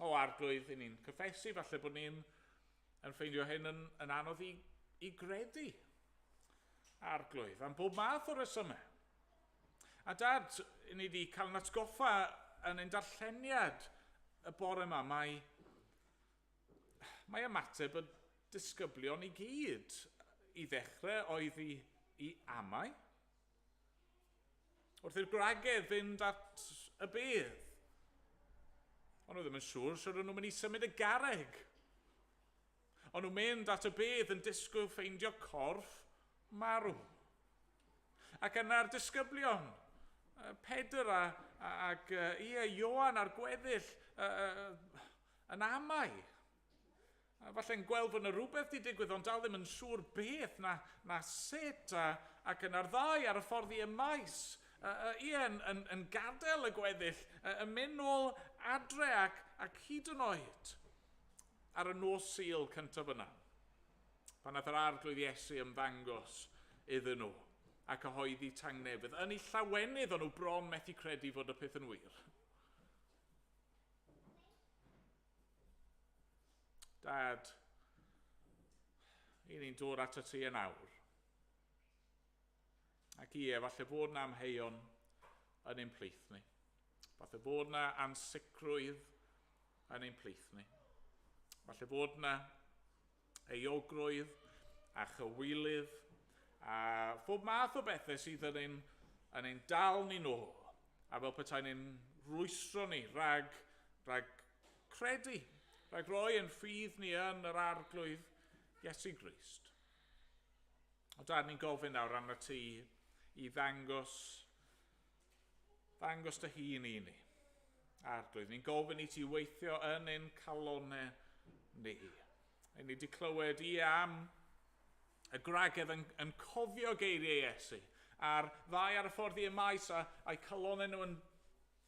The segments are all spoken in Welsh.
O arglwydd, i ni'n cyffesu, falle bod ni'n yn ffeindio hyn yn, yn anodd i, i gredu. Arglwydd, am bob math o resymau. A dad, i ni wedi cael yn atgoffa yn ein darlleniad y bore yma, mae, mae ymateb y disgyblion i gyd i ddechrau oedd i, i amau, Wrth i'r gwragedd fynd at y bedd. Ond nhw ddim yn siŵr sy'n rhan nhw'n mynd i symud y garreg. Ond nhw'n mynd at y bedd yn disgwyl ffeindio corff marw. Ac yna'r disgyblion, Pedr a, ac uh, ie, Ioan a'r gweddill, uh, uh, yn amau. A falle'n gweld fod 'na rywbeth 'di digwydd ond dal ddim yn siŵr beth na na sut a ac yna'r ddau ar y ffordd i y maes yy yy ie yn yn yn gadel y gweddill yy yn myn' nôl adre ac ac hyd yn oed ar y nos Sul cyntaf yna pan nath yr Arglwydd Iesu ymddangos iddyn nhw a cyhoeddi tangnefydd yn eu llawenydd o'n nhw bron methu credu fod y peth yn wir. Dad, i ni'n dod at y ti yn awr. Ac ie, falle bod na amheuon yn ein plith ni. Falle bod na ansicrwydd yn ein plith ni. Falle bod na euogrwydd a chywilydd a phob math o bethau sydd yn ein, yn ein dal ni nôl a fel petaen ni'n rwystro ni rhag, rhag credu, rhag roi yn ffydd ni yn yr arglwydd Iesu Grist. O da, ni'n gofyn nawr arno ti i ddangos Ddangos dy hun i ni. Arglwydd, ni'n gofyn i ti weithio yn ein calonau ni. Rhaid ni wedi clywed i am y gwragedd yn, yn cofio geiriau Iesu a'r ddau ar y ffordd i'r maes a, a'i calonau nhw yn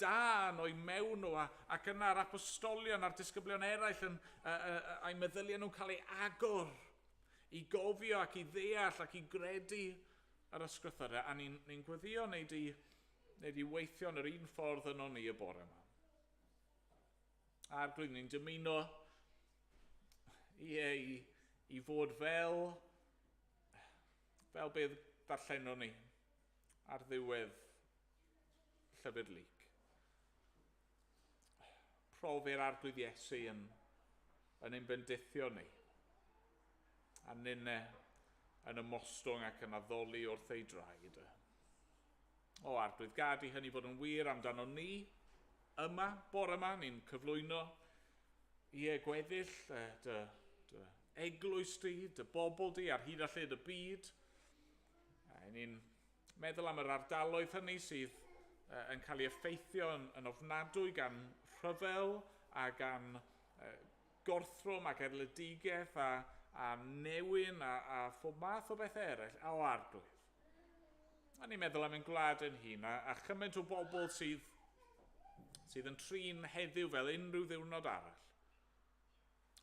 dan o'i mewn nhw a, ac yna'r apostolion a'r disgyblion eraill yn, a, a, a, a'i meddyliau nhw'n cael ei agor i gofio ac i ddeall ac i gredu Yr ysgrythyrau, a ni'n ni gweddio neu di, neu di weithio yn yr un ffordd yno ni y bore yma. A'r glyn ni'n dymuno i, i, i fod fel, fel beth darllenon ni ar ddiwedd llyfr Lyc. Profi'r Arglwydd Iesu yn, yn ein bendithio ni, a nynne yn ymostwng ac yn addoli wrth ei draed. O Arglwydd, gad i hynny fod yn wir amdano ni, yma, bore yma, ni'n cyflwyno i e gweddill dy, dy eglwys di, dy bobl di ar hyd a lled y byd, a ni'n Meddwl am yr ardaloedd hynny sydd yn cael ei effeithio yn ofnadwy gan rhyfel a gan gorthrwm ac erledigaeth a a newyn a a phob math o bethau eraill, a o arglwydd. A ni'n meddwl am ein gwlad ein hun a a chymaint o bobl sydd sydd yn trin heddiw fel unrhyw ddiwrnod arall.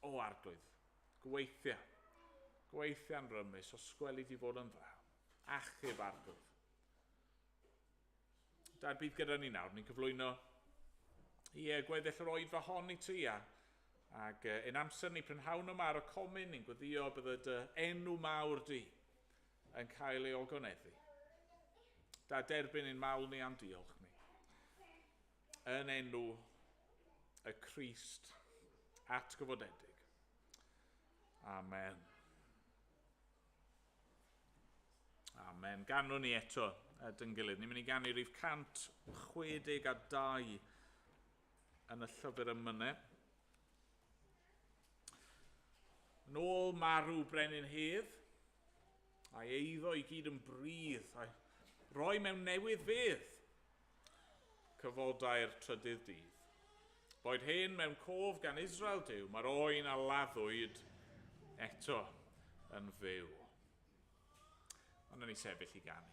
O arglwydd, gweithia. Gweithia'n rymus, os gweli di fod yn dda. achub arglwydd. Da, bydd gyda ni nawr, ni'n cyflwyno i uh, gweddill yr oedfa hon i tria. Ac uh, yn amser ni prynhawn yma ar y comin, ni'n gweddio bydd y dy enw mawr di yn cael ei ogoneddu. Da derbyn yn mawl ni am diolch ni. Yn enw y Christ atgyfodedig. Amen. Amen. Ganwn ni eto a dyn gilydd. Ni'n mynd i ganu rhif 162 yn y llyfr ym mynau. Yn ôl marw brenin hedd, a'i eiddo i gyd yn brydd, a'i roi mewn newydd fedd. Cyfodai'r trydydd dydd. Boed hyn mewn cof gan Israel Duw, mae'r oen a laddwyd eto yn fyw. Ond ni sefyll i ganu.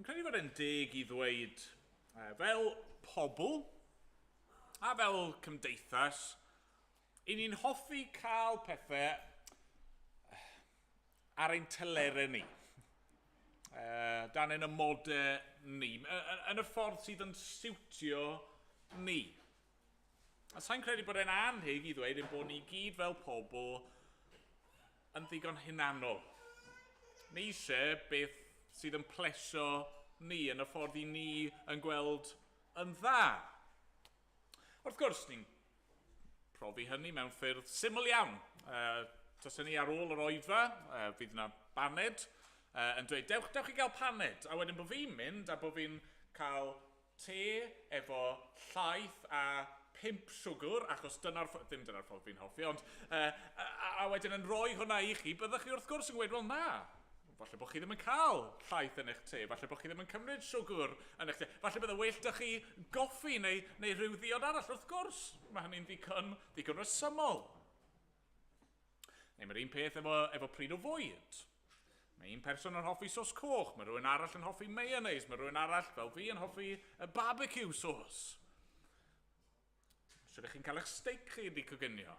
Yn credu fod e'n deg i ddweud, uh, fel pobl a fel cymdeithas, i ni'n hoffi cael pethau ar ein telerau ni. Uh, dan yn y modau ni, yn y ffordd sydd yn siwtio ni. A sa i'n credu bod e'n annheg i ddweud ein bod ni i gyd fel pobl yn ddigon hunanol. Ni eisiau beth sydd yn plesio ni yn y ffordd i ni yn gweld yn dda. Wrth gwrs, ni'n profi hynny mewn ffyrdd syml iawn. Uh, Tasa ni ar ôl yr oedfa, uh, fydd yna baned, uh, yn dweud, dewch, dewch i gael paned. A wedyn bod fi'n mynd a bod fi'n cael te efo llaeth a phump siwgr, achos dyna'r ffo-, ddim dyna'r ffordd fi'n hoffi, ond, yy, a, a wedyn yn rhoi hwnna i chi, byddech chi wrth gwrs yn gweud, wel na, falle bod chi ddim yn cael llaeth yn eich te, falle bod chi ddim yn cymryd siwgr yn eich te, falle bydde well 'da chi goffi neu, neu rhyw ddiod arall, wrth gwrs, mae hynny'n ddigon, ddigon resymol. Neu mae'r un peth efo, efo pryd o fwyd. Mae un person yn hoffi sos coch, mae rhywun arall yn hoffi mayonnaise, mae rhywun arall fel fi yn hoffi y barbecue sos. Os ydych chi'n cael eich steak chi wedi coginio,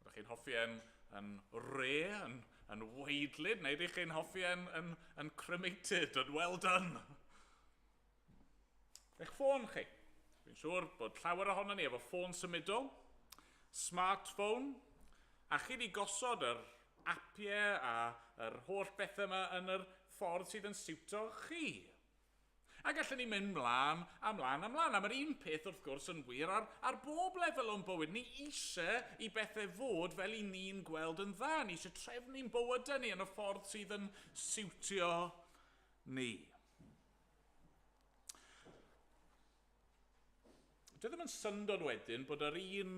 ydych chi'n hoffi yn, yn re, yn, yn weidlyd, neu ydych chi'n hoffi yn, yn, yn cremated, yn well done. Eich ffôn chi. Fi'n siŵr bod llawer ohono ni efo ffôn symudol, smartphone, a chi wedi gosod yr apiau a yr holl bethau yma yn yr ffordd sydd yn siwto chi. A gallwn ni mynd mlaen a mlaen a mlaen, a mae'r un peth wrth gwrs yn wir ar, ar bob lefel o'n bywyd. Ni eisiau i bethau fod fel i ni'n gweld yn dda, ni eisiau trefnu'n bywydau ni yn y ffordd sydd yn siwtio ni. Dwi ddim yn syndod wedyn bod yr un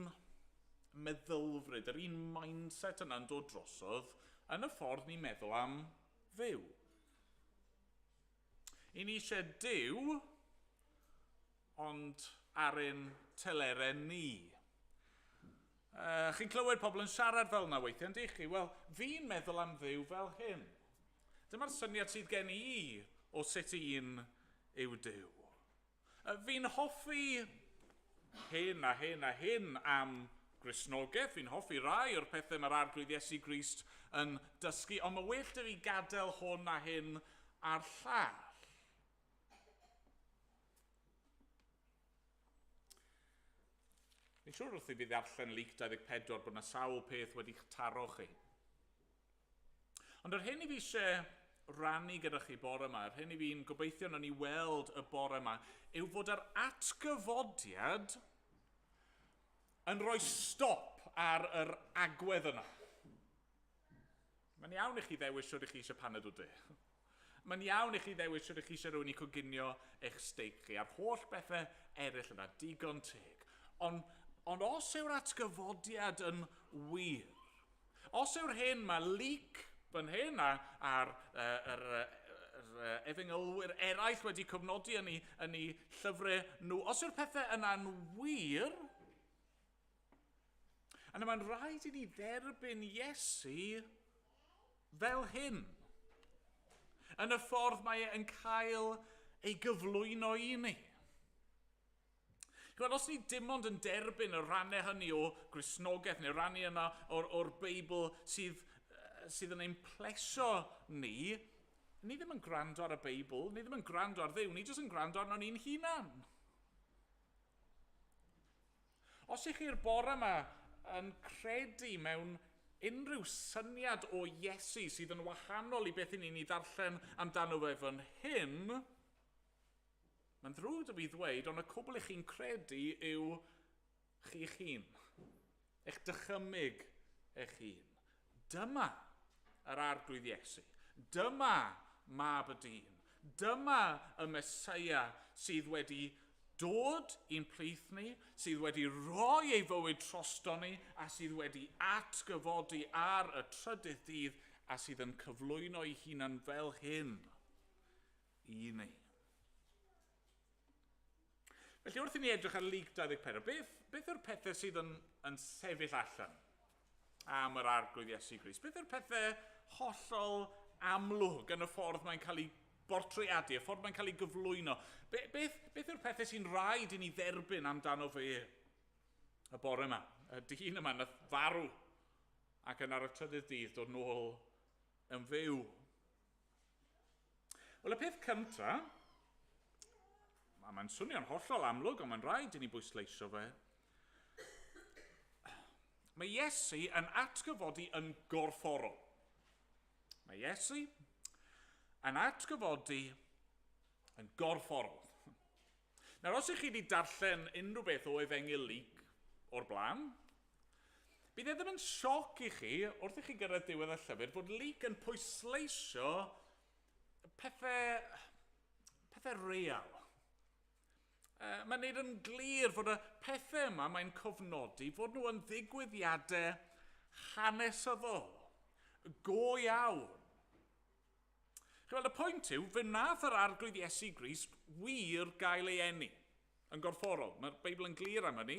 meddylfryd, yr un mindset yna'n dod drosodd yn y ffordd ni'n meddwl am fyw. I ni eisiau Dyw, ond ar ein teleren ni. Yy, chi'n clywed pobl yn siarad fel yna weithiau, yn chi? Wel, fi'n meddwl am Dduw fel hyn. Dyma'r syniad sydd gen i o sut un yw Duw. Fi'n hoffi hyn a hyn a hyn am Gristnogaeth, fi'n hoffi rai o'r pethau mae'r Arglwydd Iesu Grist yn dysgu, ond mae well da fi gadael hwn a hyn a'r llall. Fi'n siŵr wrth i fi ddarllen Luc 24 bod yna sawl peth wedi'ch taro chi. Ond yr hyn i fi eisiau rannu gyda chi bore yma, yr hyn i fi'n gobeithio nhw'n i weld y bore yma, yw fod yr atgyfodiad yn rhoi stop ar yr agwedd yna. Mae'n iawn i chi ddewis shwt i chi eisiau paned o de. Mae'n iawn i chi ddewis shwt i chi eisiau rhywun i coginio eich steik chi, a'r holl bethau eraill yna, digon teg. Ond, ond os yw'r atgyfodiad yn wir, os yw'r hyn mae Luc fan hyn a, a'r uh, er, er, efengylwyr eraill wedi cofnodi yn ei, yn ei llyfrau nhw, os yw'r pethau yna'n wir, A nawr mae'n rhaid i ni dderbyn Iesu fel hyn. Yn y ffordd mae e yn cael ei gyflwyno i ni. Gweld, os ni dim ond yn derbyn y rannau hynny o grisnogaeth neu rannu yna o'r, or Beibl sydd, sydd yn ein plesio ni, ni ddim yn gwrando ar y Beibl, ni ddim yn gwrando ar ddew, ni jyst yn gwrando arno ni'n hunan. Os ych chi'r bore yma yn credu mewn unrhyw syniad o Iesu sydd yn wahanol i beth i ni'n ei ddarllen amdano fe fan hyn, mae'n ddrwg 'da fi ddweud, ond y cwbl i chi'n credu yw chi'ch hun. Eich dychymyg eich hun. Dyma yr Arglwydd Iesu. Dyma Mab y Dyn. Dyma y Meseia sydd wedi dod i'n plith ni, sydd wedi rhoi ei fywyd trosto ni, a sydd wedi atgyfodi ar y trydydd dydd, a sydd yn cyflwyno ei hunan fel hyn i ni. Felly wrth i ni edrych ar Luc 24, beth, beth yw'r pethau sydd yn, yn sefyll allan am yr arglwydd Iesu Gris? Beth yw'r pethau hollol amlwg yn y ffordd mae'n cael ei bortreadu, y ffordd mae'n cael ei gyflwyno? Be, beth, beth yw'r pethau sy'n rhaid i ni dderbyn amdano fe y bore yma? Y dyn yma na farw ac yn ar y trydydd dydd dod nôl yn fyw. Wel, y peth cynta, a mae'n swnio'n hollol amlwg, ond mae'n rhaid i ni bwysleisio fe, mae Iesu yn atgyfodi yn gorfforol. Mae Iesu yn atgyfodi yn gorfforol. Nawr, os ych chi wedi darllen unrhyw beth o Efengyl Luc o'r blaen, bydd e ddim yn sioc i chi, wrth i chi gyrraedd diwedd y llyfr, bod Luc yn pwysleisio pethau, pethau real. Uh, mae'n neud yn glir fod y pethau yma mae'n cofnodi fod nhw yn ddigwyddiadau hanesyddol, go iawn. Chi'n gweld, y pwynt yw, fe wnaeth yr Arglwydd Iesu Grist wir gael ei eni yn gorfforol. Mae'r Beibl yn glir am hynny.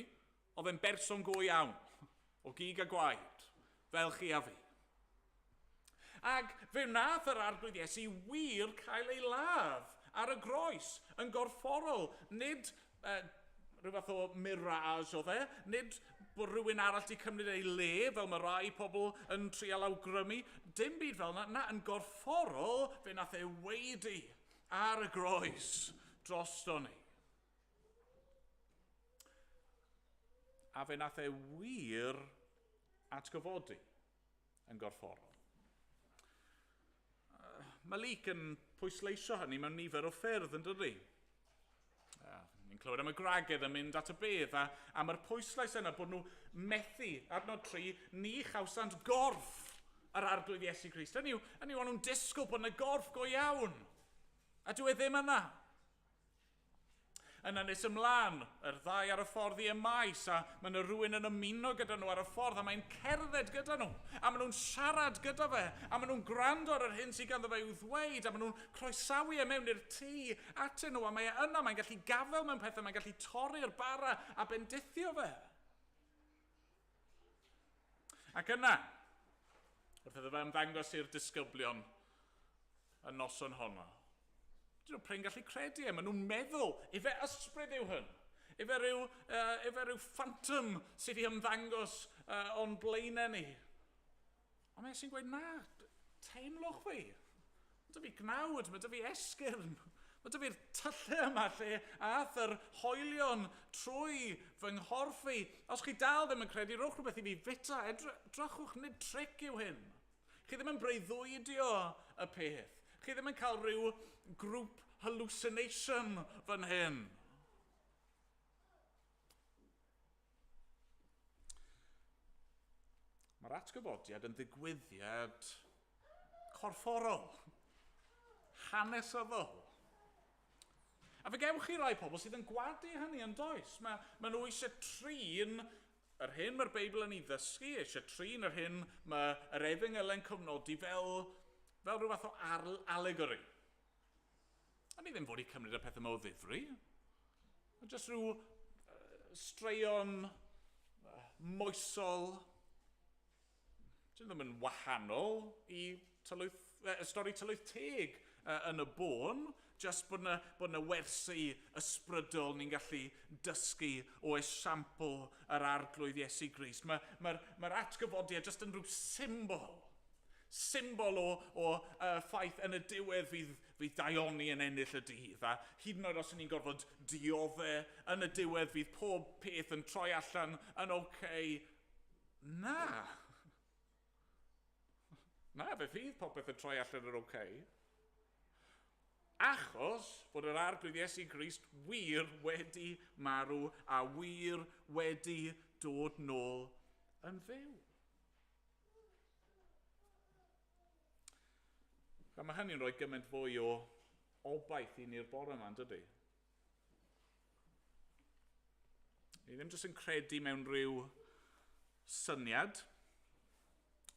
Oedd e'n berson go iawn, o gig a gwaed, fel chi a fi. Ac fe wnaeth yr Arglwydd Iesu wir cael ei ladd ar y groes yn gorfforol, nid Yy, rhyw fath o mirage oedd e. Nid bod rhywun arall 'di cymryd ei le, fel mae rai pobl yn trial awgrymu. Dim byd fel yna, na, yn gorfforol, fe nath e waedu ar y groes drosto ni. A fe nath e wir atgyfodi. yn gorfforol. Uh, mae Leek yn pwysleisio hynny mewn nifer o ffyrdd yn dydy. Uh, ni'n clywed am y gwragedd yn mynd at y bedd a am yr pwyslais yna bod nhw methu adnod tri ni chawsant gorff yr arglwydd Iesu Grist. Hynny yw, hynny yw, nhw'n disgwyl bod yna gorff go iawn. A dwi e ddim yna. Yna nes ymlaen, yr ddau ar y ffordd i y maes, a mae yna rhywun yn ymuno gyda nhw ar y ffordd, a mae'n cerdded gyda nhw, a maen nhw'n siarad gyda fe, a maen nhw'n gwrando ar yr hyn sydd ganddo fe i'w ddweud, a maen nhw'n croesawu e mewn i'r tŷ atyn nhw, a mae e yna, mae'n gallu gafael mewn pethau, mae'n gallu torri'r bara a bendithio fe. Ac yna, wrth iddo fe ymddangos i'r disgyblion y noson honno, dyn nhw prin gallu credu e, maen nhw'n meddwl, efe ysbryd yw hwn, efe rhyw, uh, efe rhyw phantom sydd wedi ymddangos uh, o'n blaenau ni. Ond mae e sy'n gweud na, teimlwch fi. Mae 'da fi gnawd, mae 'da fi esgyrn. Mae 'da fi'r tyllau yma lle aeth yr hoelion trwy fy nghorff i. Os chi dal ddim yn credu, rhowch rhywbeth i fi fwyta. Edrychwch, nid tric yw hyn. Chi ddim yn breuddwydio y peth. Chi ddim yn cael rhyw grŵp hallucination fan hyn. Mae'r atgyfodiad yn ddigwyddiad corfforol, hanesyddol. A fe gewch chi rai pobl sydd yn gwadu hynny yn does. Mae, mae nhw eisiau trin yr hyn mae'r Beibl yn ei ddysgu, eisiau trin yr hyn mae yr efengyl yn cyfnodi fel, fel rhyw fath o allegory. A ni ddim fod i cymryd y pethau yma o ddifri. Mae jyst rhyw straeon moesol. Dyn ddim yn wahanol i tylwyth, uh, stori tylwyth teg uh, yn y bôn. Just bod yna, bod yna wersi ysbrydol ni'n gallu dysgu o esiampl yr arglwydd Iesu Grist. Mae'r mae, mae, mae atgyfodiad jyst yn rhyw symbol symbol o, o uh, ffaith yn y diwedd fydd, fydd daioni yn ennill y dydd, a hyd yn oed os ni'n gorfod diodde, yn y diwedd fydd pob peth yn troi allan yn oce. Okay. Na. Na, fe fydd popeth yn troi allan yn oce. Okay. Achos bod yr arglwydd Iesu Grist wir wedi marw a wir wedi dod nôl yn fyw. A mae hynny'n rhoi gymaint fwy o obaith i ni'r bore yma, yn dydy? Ni ddim jyst yn credu mewn rhyw syniad.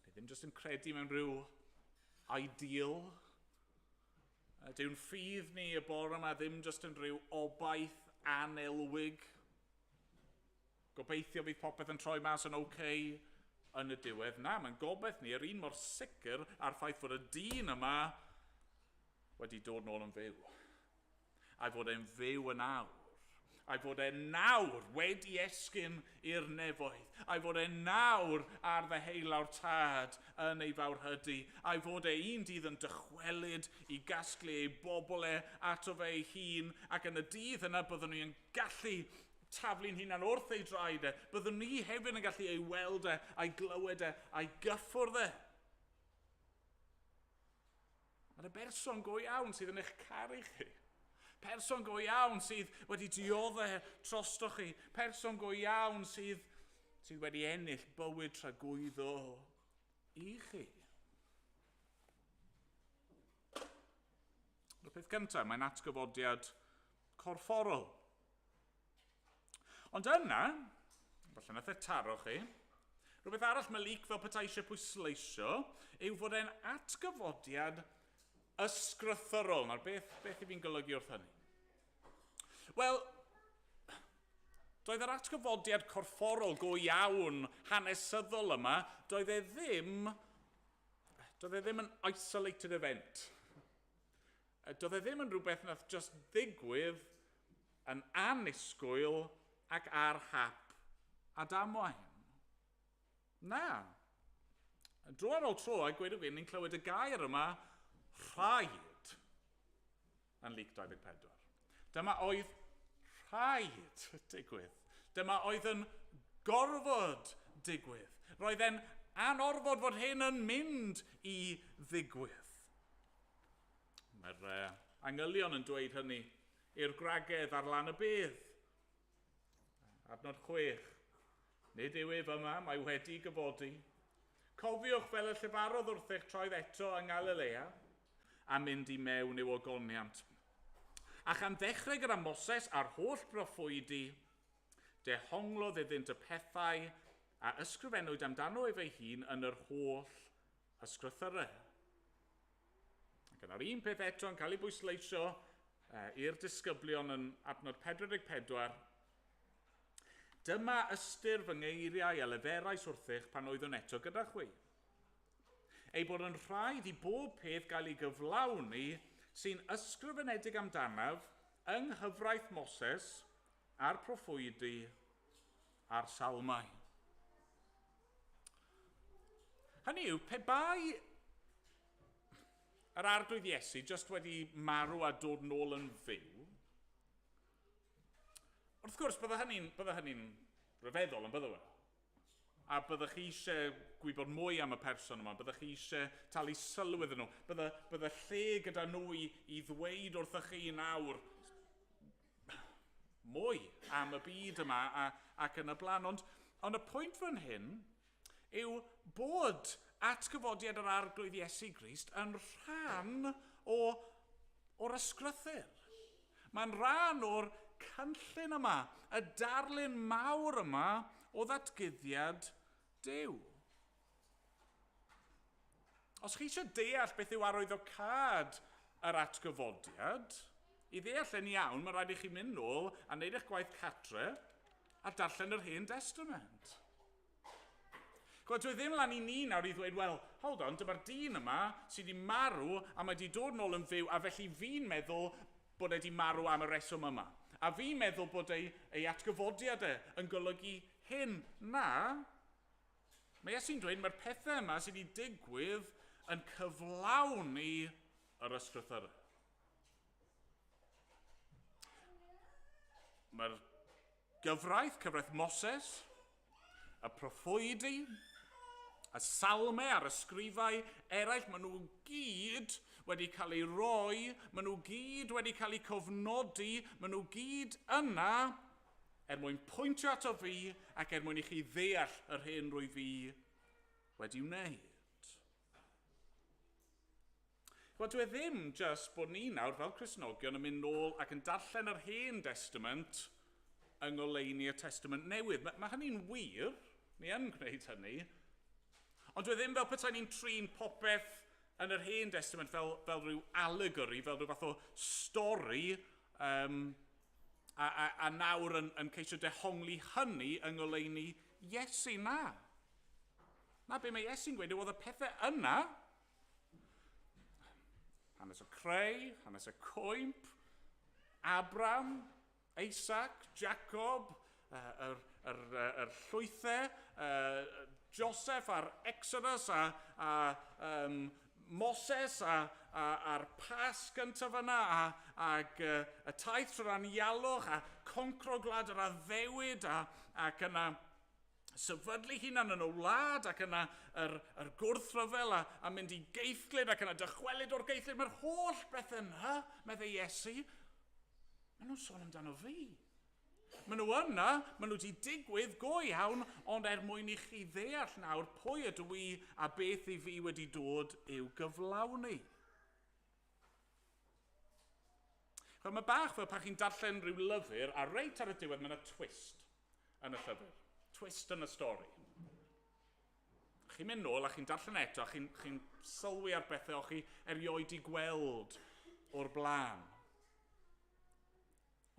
Ni ddim jyst yn credu mewn rhyw ideal. Dyw'n ffydd ni y bore yma ddim jyst yn rhyw obaith anelwig. Gobeithio bydd popeth yn troi mas yn ok yn y diwedd. Na, mae'n gobaith ni yr un mor sicr a'r ffaith fod y dyn yma wedi dod nôl yn fyw. A'i fod e'n fyw yn awr. A'i fod e nawr wedi esgyn i'r nefoedd. A'i fod e nawr ar ddeheulawr tad yn ei fawr hydy. A'i fod e un dydd yn dychwelyd i gasglu ei bobl e ato fe ei hun ac yn y dydd yna byddwn ni yn gallu taflu'n hunan wrth ei draed e, byddwn ni hefyd yn gallu ei weld e, a'i glywed e, a'i gyffwrdd e. Mae'r y berson go iawn sydd yn eich caru chi. Person go iawn sydd wedi diodde trosto chi. Person go iawn sydd, sydd wedi ennill bywyd tragwyddo i chi. Y peth gyntaf, mae'n atgyfodiad corfforol. Ond yna, falle nath e taro chi, rhywbeth arall mae Luc fel petai eisiau pwysleisio yw fod e'n atgyfodiad ysgrythorol. Nawr, beth, beth i fi'n golygu wrth hynny? Wel, doedd yr atgyfodiad corfforol go iawn hanesyddol yma, doedd e ddim Doedd e ddim yn isolated event. Doedd e ddim yn rhywbeth nath just ddigwydd yn annisgwyl ac ar hap a damwain. Na. Dro ar ôl tro, a gweud y gwir, ni'n clywed y gair yma, rhaid. yn League 24. Dyma oedd rhaid digwydd. Dyma oedd yn gorfod digwydd. Roedd e'n anorfod fod hyn yn mynd i ddigwydd. Mae'r uh, angylion yn dweud hynny i'r gwragedd ar lan y bydd. Adnod chwech. Nid yw ef yma, mae wedi gyfodi. Cofiwch, fel y llefarodd wrth eich troed eto yng Ngalilea, a mynd i mewn i'w ogoniant. A chan ddechrau gyda Moses a'r holl broffwydi, dehonglodd iddynt y pethau a ysgrifennwyd amdano ef ei hun yn yr holl ysgrythyrau. Ac yna'r un peth eto yn cael ei bwysleisio i'r disgyblion yn adnod 44, Dyma ystyr fy ngeiriau a leferais wrthych pan oeddwn eto gyda chwi. Ei bod yn rhaid i bob peth gael ei gyflawni sy'n ysgrifenedig amdanaf yng nghyfraith Moses a'r proffwydi a'r salmau. Hynny yw, pe bai yr Arglwydd Iesu jyst wedi marw a dod nôl yn fyw, Wrth gwrs, bydde hynny'n bydde hynny'n rhyfeddol, yn bydde fe? A byddech chi eisiau gwybod mwy am y person yma, byddech chi eisiau talu sylw iddyn nhw, bydde, bydde lle gyda nhw i, i ddweud wrthych chi nawr mwy am y byd yma a, ac yn y blaen. Ond, ond y pwynt fan hyn yw bod atgyfodiad yr Arglwydd Iesu Grist yn rhan o, o'r ysgrythur. Mae'n rhan o'r cynllun yma, y darlun mawr yma o ddatguddiad Duw. Os chi eisiau deall beth yw arwyddocâd yr atgyfodiad, i ddeall yn iawn, mae rhaid i chi mynd nôl a wneud eich gwaith catre a darllen yr Hen Destament. Chwa, dwi ddim lan i ni nawr i ddweud, wel, hold on, dyma'r dyn yma sydd wedi marw a mae wedi dod nôl yn fyw a felly fi'n meddwl bod e wedi marw am y reswm yma. A fi'n meddwl bod ei, ei atgyfodiad e yn golygu hyn. Na, mae Iesu'n dweud mae'r pethau yma sydd wedi digwydd yn cyflawni yr ysgrythyrau. Mae'r Gyfraith, cyfraith Moses, y proffwydi, y salmau a'r ysgrifau eraill, maen nhw gyd wedi cael ei roi, maen nhw gyd wedi cael eu cofnodi, maen nhw gyd yna er mwyn pwyntio ato fi ac er mwyn i chi ddeall yr hyn rwy fi wedi wneud. Wel, dyw e ddim jyst bod ni nawr fel Cristnogion yn mynd nôl ac yn darllen yr Hen Destament yng ngoleuni y Testament Newydd. Mae, mae hynny'n wir, ni yn gwneud hynny. Ond dyw e ddim fel petai ni'n trin popeth yn yr Hen Destament fel, fel rhyw allegory, fel rhyw fath o stori, um, a, a, a nawr yn, yn ceisio dehongli hynny yng ngoleuni Iesu. Na. Na, be mae Iesu'n gweud yw oedd y pethau yna Hanes y creu, hanes y coimp, Abram, Isaac, Jacob, yr, yr, yr, yr llwythau, uh, Joseph a'r Exodus a, a um, Moses a, a, a'r pas gyntaf yna a, ag uh, y taith trwy'r anialwch a concro gwlad yr addewid a, ac yna sefydlu hunan yn y wlad ac yna yr, yr gwrthryfel a, a mynd i geithglyd ac yna dychwelyd o'r geithglyd. Mae'r holl beth yna, meddai Iesu. Mae nhw'n sôn amdano fi. Mae nhw yna, mae nhw wedi digwydd go iawn, ond er mwyn i chi ddeall nawr pwy ydw i a beth i fi wedi dod i'w gyflawni. Chwa, mae bach fel pan chi'n darllen rhyw lyfr a reit ar y diwedd mae yna twist. yn y llyfr. Twist yn y stori. Chi'n mynd nôl a chi'n darllen eto a chi'n chi sylwi ar bethau o'ch chi erioed i gweld o'r blaen.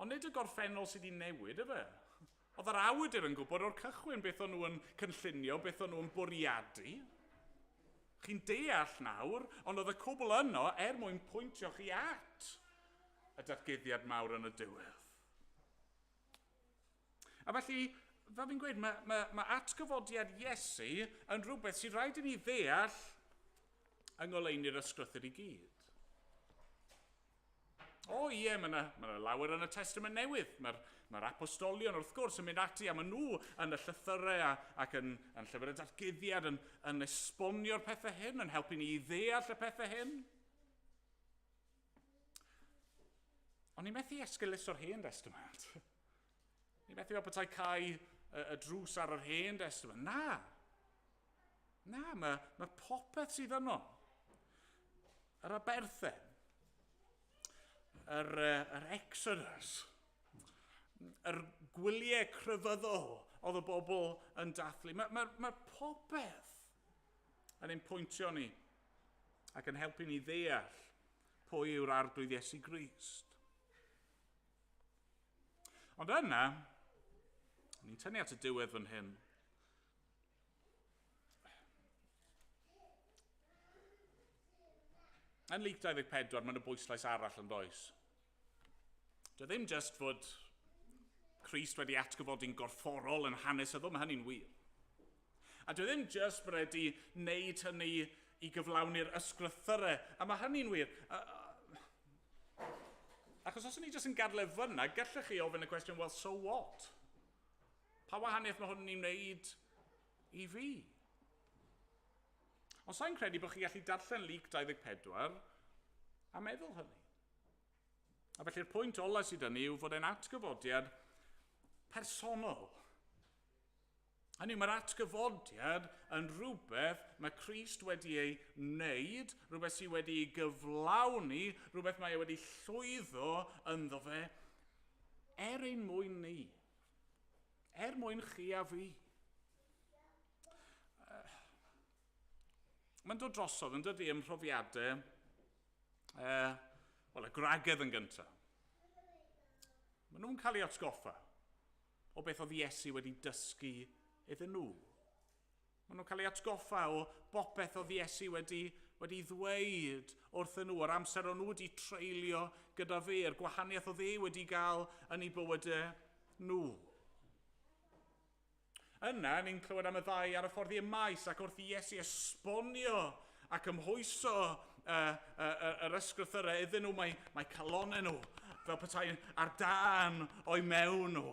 Ond nid y gorffennol sydd wedi newid, efe. Oedd yr awydur yn gwybod o'r cychwyn beth o'n nhw'n cynllunio, beth o'n nhw'n bwriadu. Chi'n deall nawr, ond oedd y cwbl yno er mwyn pwyntio chi at y datguddiad mawr yn y diwedd. A felly, fel fi'n gweud, mae, mae, mae atgyfodiad Iesu yn rhywbeth sy'n rhaid i ni ddeall yng ngoleuni'r ysgrythyr i gyd. O ie, mae yna, mae yna lawer yn y Testament Newydd. Mae'r mae apostolion, wrth gwrs, yn mynd ati a maen nhw yn y llythyrau a, ac yn, yn llyfr y datguddiad yn, yn esbonio'r pethau hyn, yn helpu ni i ddeall y pethau hyn. Ond ni methu esgylus o'r hen destament. Ni methu fel petai cael y, y drws ar yr hen destament. Na! Na, mae, mae popeth sydd yno. Yr aberthen. Yr, yr exodus. Yr gwyliau crefyddol oedd y bobl yn dathlu. Mae, mae, mae popeth yn ein pwyntio ni ac yn helpu ni ddeall pwy yw'r Arglwydd Iesu Grist. Ond yna, ni'n tynnu at y diwedd fan hyn, Yn Luc 24, mae'n y bwyslais arall yn does. Dy e ddim just fod Christ wedi atgyfodi'n gorfforol yn hanesyddol, mae hynny'n wir. A dwi ddim jyst wedi wneud hynny i gyflawni'r ysgrythyrau, a mae hynny'n wir. Achos os o'n i jyst yn gadle fyna, gallech chi ofyn y cwestiwn, well, so what? Pa wahaniaeth mae hwn yn wneud i fi? Ond sa'n credu bod chi gallu darllen Luc 24 a meddwl hynny. A felly'r pwynt ola sydd yn ni yw fod e'n atgyfodiad personol. Hynny yw, mae'r atgyfodiad yn rhywbeth mae Christ wedi ei wneud, rhywbeth sydd wedi ei gyflawni, rhywbeth mae e wedi llwyddo ynddo fe, er ein mwyn ni, er mwyn chi a fi. Uh, Mae'n dod drosodd yn dydy ym mhrofiadau uh, wel, y gwragedd yn gyntaf. Maen nhw'n cael ei atgoffa. o beth oedd Iesu wedi dysgu iddyn nhw. Maen nhw'n cael ei atgoffa o bopeth oedd Iesu wedi, wedi ddweud wrthyn nhw, o'r amser o'n nhw wedi treulio gyda fe, yr gwahaniaeth oedd e wedi gael yn ei bywydau nhw. Yna, ni'n clywed am y ddau ar y ffordd i'r maes ac wrth i Iesu esbonio a cymhwyso uh, uh, yr ysgrythyrau iddyn nhw, mae, mae calonau nhw fel petai ar dan o'i mewn nhw.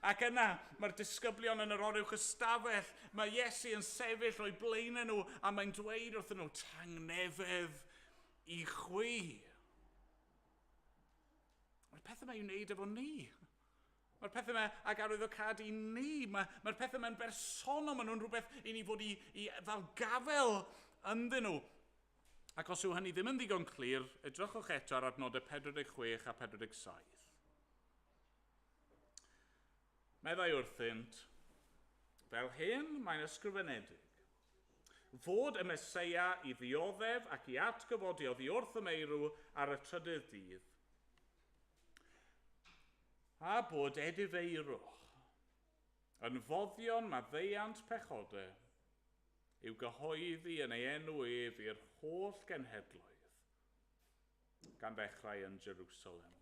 Ac yna mae'r disgyblion yn yr oruwch ystafell, mae Iesu yn sefyll o'i blaen nhw a mae'n dweud wrthyn nhw, tangnefedd i chwi. Mae'r pethau mae'n wneud efo ni. Mae'r pethau yma ac arwyddocâd i ni. Mae, mae'r pethau yma'n bersonol, maen nhw'n rhywbeth i ni fod i, i ddal gafel ynddyn nhw. Ac os yw hynny ddim yn ddigon clir, edrychwch eto ar adnodau 46 a 47. Meddai wrthynt, fel hyn mae'n ysgrifenedig, fod y Mesoea i ddioddef ac i atgyfodi oddi wrth y meirw ar y trydydd dydd. A bod edifeirwch yn foddion maddeuant pechode i'w gyhoeddi yn ei enw ef i'r holl genhedloedd, gan ddechrau yn Jerusalem.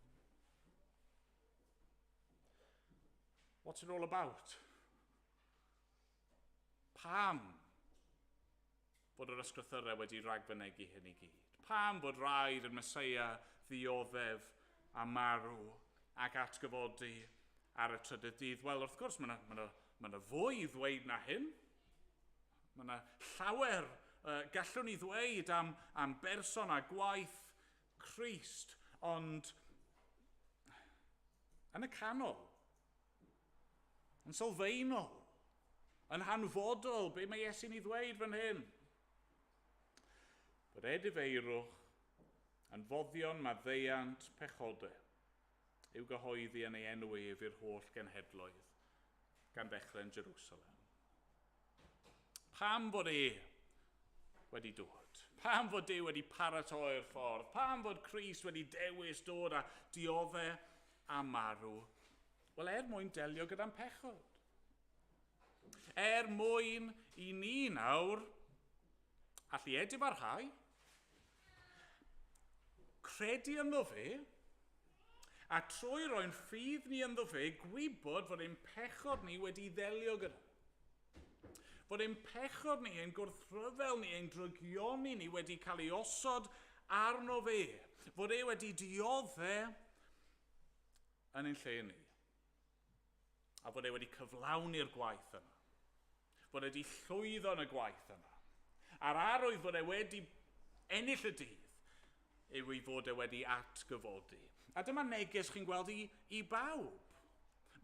What's it all about? Pam fod yr Ysgrythyrau wedi ragfynegi hyn i gyd? Pam fod rhaid i'r Meseia ddioddef a marw ac atgyfodi ar y trydydd dydd? Wel, wrth gwrs, mae yna ma na, ma na fwy i ddweud na hyn. Mae yna llawer uh, gallwn ni ddweud am, am berson a gwaith Christ, ond yn y canol, Yn sylfaenol, yn hanfodol, be mae Iesu'n ei ddweud fan hyn? Bod edifeirwch yn foddion maddeuant pechode i'w gyhoeddi yn ei enw ef i'r holl genhedloedd, gan ddechrau'n Jerusalem. Pam fod e wedi dod? Pam fod Dyw wedi paratoi'r ffordd? Pam fod Cris wedi dewis dod a diodde a marw? Wel, er mwyn delio gyda'n pechod. Er mwyn i ni nawr allu edif ar rhai, Credu ynddo fe, a trwy roi'n ffydd ni ynddo fe, gwybod fod ein pechod ni wedi'i ddelio gyda. Fod ein pechod ni, ein gwrthryfel ni, ein drygioni ni wedi cael ei osod arno fe. Fod e wedi diodde yn ein lle ni. A fod e wedi cyflawni'r gwaith yna. fod e 'di llwyddo yn y gwaith yma, a'r arwydd fod e wedi ennill y dydd yw ei fod e wedi atgyfodi. A dyma neges chi'n gweld i, i bawb.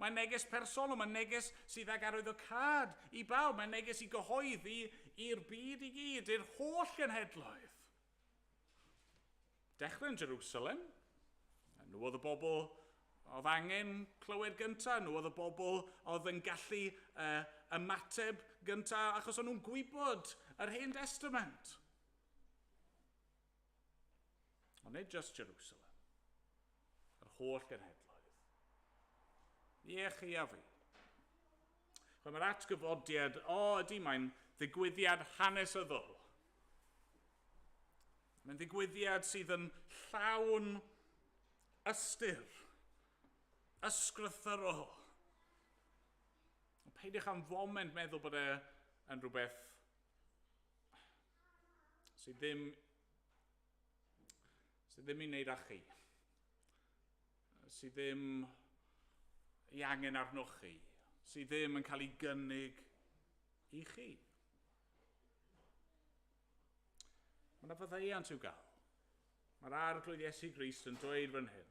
Mae'n neges personol, mae'n neges sydd ag arwyddocâd i bawb, mae'n neges i gyhoeddi i'r byd i gyd, i'r holl genhedloedd. Dechrau yn Jerusalem. Nhw oedd y bobl oedd angen clywed gyntaf, nhw oedd y bobl oedd yn gallu uh, ymateb gyntaf, achos o'n nhw'n gwybod yr Hen Testament. Ond nid just Jerusalem, yr holl genhedloedd. Ie, chi a fi. Chwe, mae'r atgyfodiad, o ydy, mae'n ddigwyddiad hanesyddol. Mae'n ddigwyddiad sydd yn llawn ystyr, ysgrythyrol. Ond peidiwch am foment meddwl bod e yn rhywbeth sydd ddim sydd ddim i wneud â chi, sydd ddim i angen arnoch chi, sydd ddim yn cael ei gynnig i chi. Mae yna faddeuant i'w gael. Mae'r arglwydd Iesu Grist yn dweud fan hyn,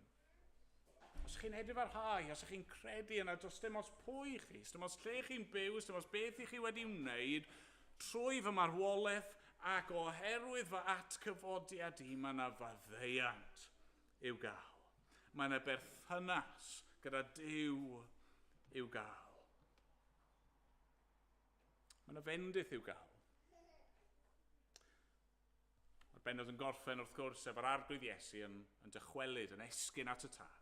os chi'n edrych ar hau, os chi'n credu yna, does dim os pwy chi, dim os lle chi'n byw, dim os beth i chi wedi wneud, trwy fy marwolaeth ac oherwydd fy atgyfodiad i, mae yna faddeuant i'w gael. Mae yna berthynas gyda Dyw i'w gael. Mae yna fendith i'w gael. Mae'r bennod yn gorffen, wrth gwrs, efo'r arglwydd Iesu yn, yn dychwelyd, yn esgyn at y tad.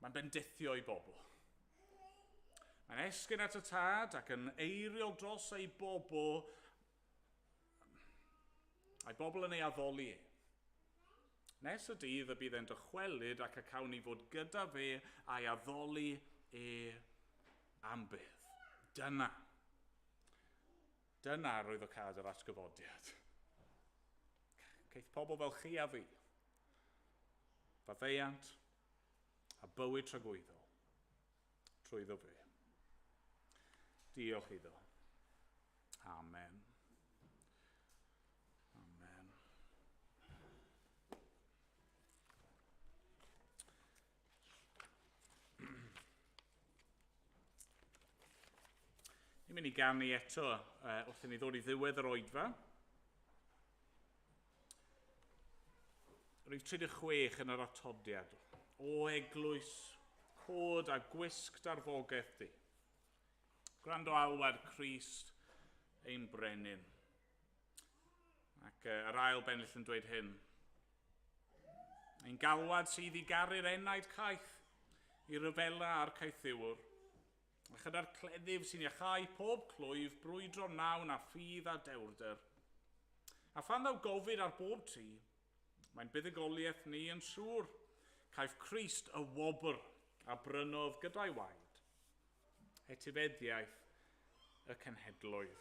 Mae'n bendithio i bobl. Mae'n esgyn at y tad ac yn eiriol dros ei bobl, a'i bobl yn ei addoli e. Nes y dydd y bydd e'n dychwelyd ac y cawn ni fod gyda fe a'i addoli e am byth. Dyna. Dyna roedd o cad yr atgyfodiad. Caeth pobl fel chi a fi. Faddeuant a bywyd tragwyddol. trwyddo fe. Diolch iddo. Amen. Amen. Ni'n mynd i ganu eto uh, wrth i ni ddod i ddiwedd yr oedfa. Rhif 36 yn yr atodiad. O eglwys, cod a gwisg darfogaeth di. Gwrando alwad Christ ein brenin. Ac uh, yr ail bennill yn dweud hyn. Ein galwad sydd i garu'r enaid caeth, i ryfela a'r caethiwr. A chyda'r cleddyf sy'n iachau pob clwyf brwydro wnawn â ffydd a dewrder. A phan ddaw gofid ar bob tri, mae'n buddugoliaeth ni yn siŵr, caiff Christ y wobr a brynodd gyda'i waed, etifeddiaeth y cenhedloedd.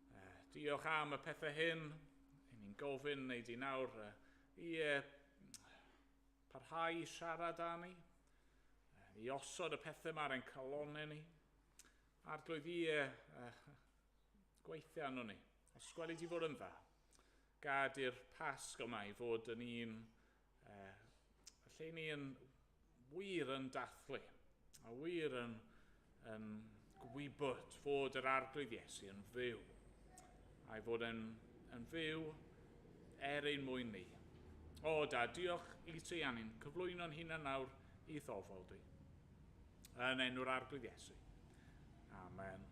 Uh, diolch am y pethau hyn. I ni'n gofyn wneud i nawr uh, i uh, parhau i siarad â ni, uh, i osod y pethau mae'r ein calonau ni, a'r glwydd i uh, uh, gweithio arno ni. Os gwelid i fod yn dda, gad i'r pasg yma i fod yn un Yy, felly ni yn wir yn dathlu, a wir yn, yn gwybod fod yr arglwydd Iesu yn fyw, a'i fod yn, yn fyw er ein mwyn ni. O, da, diolch i ti, a ni'n cyflwyno'n hunan nawr i thofol di. Yn enw'r arglwydd Iesu. Amen.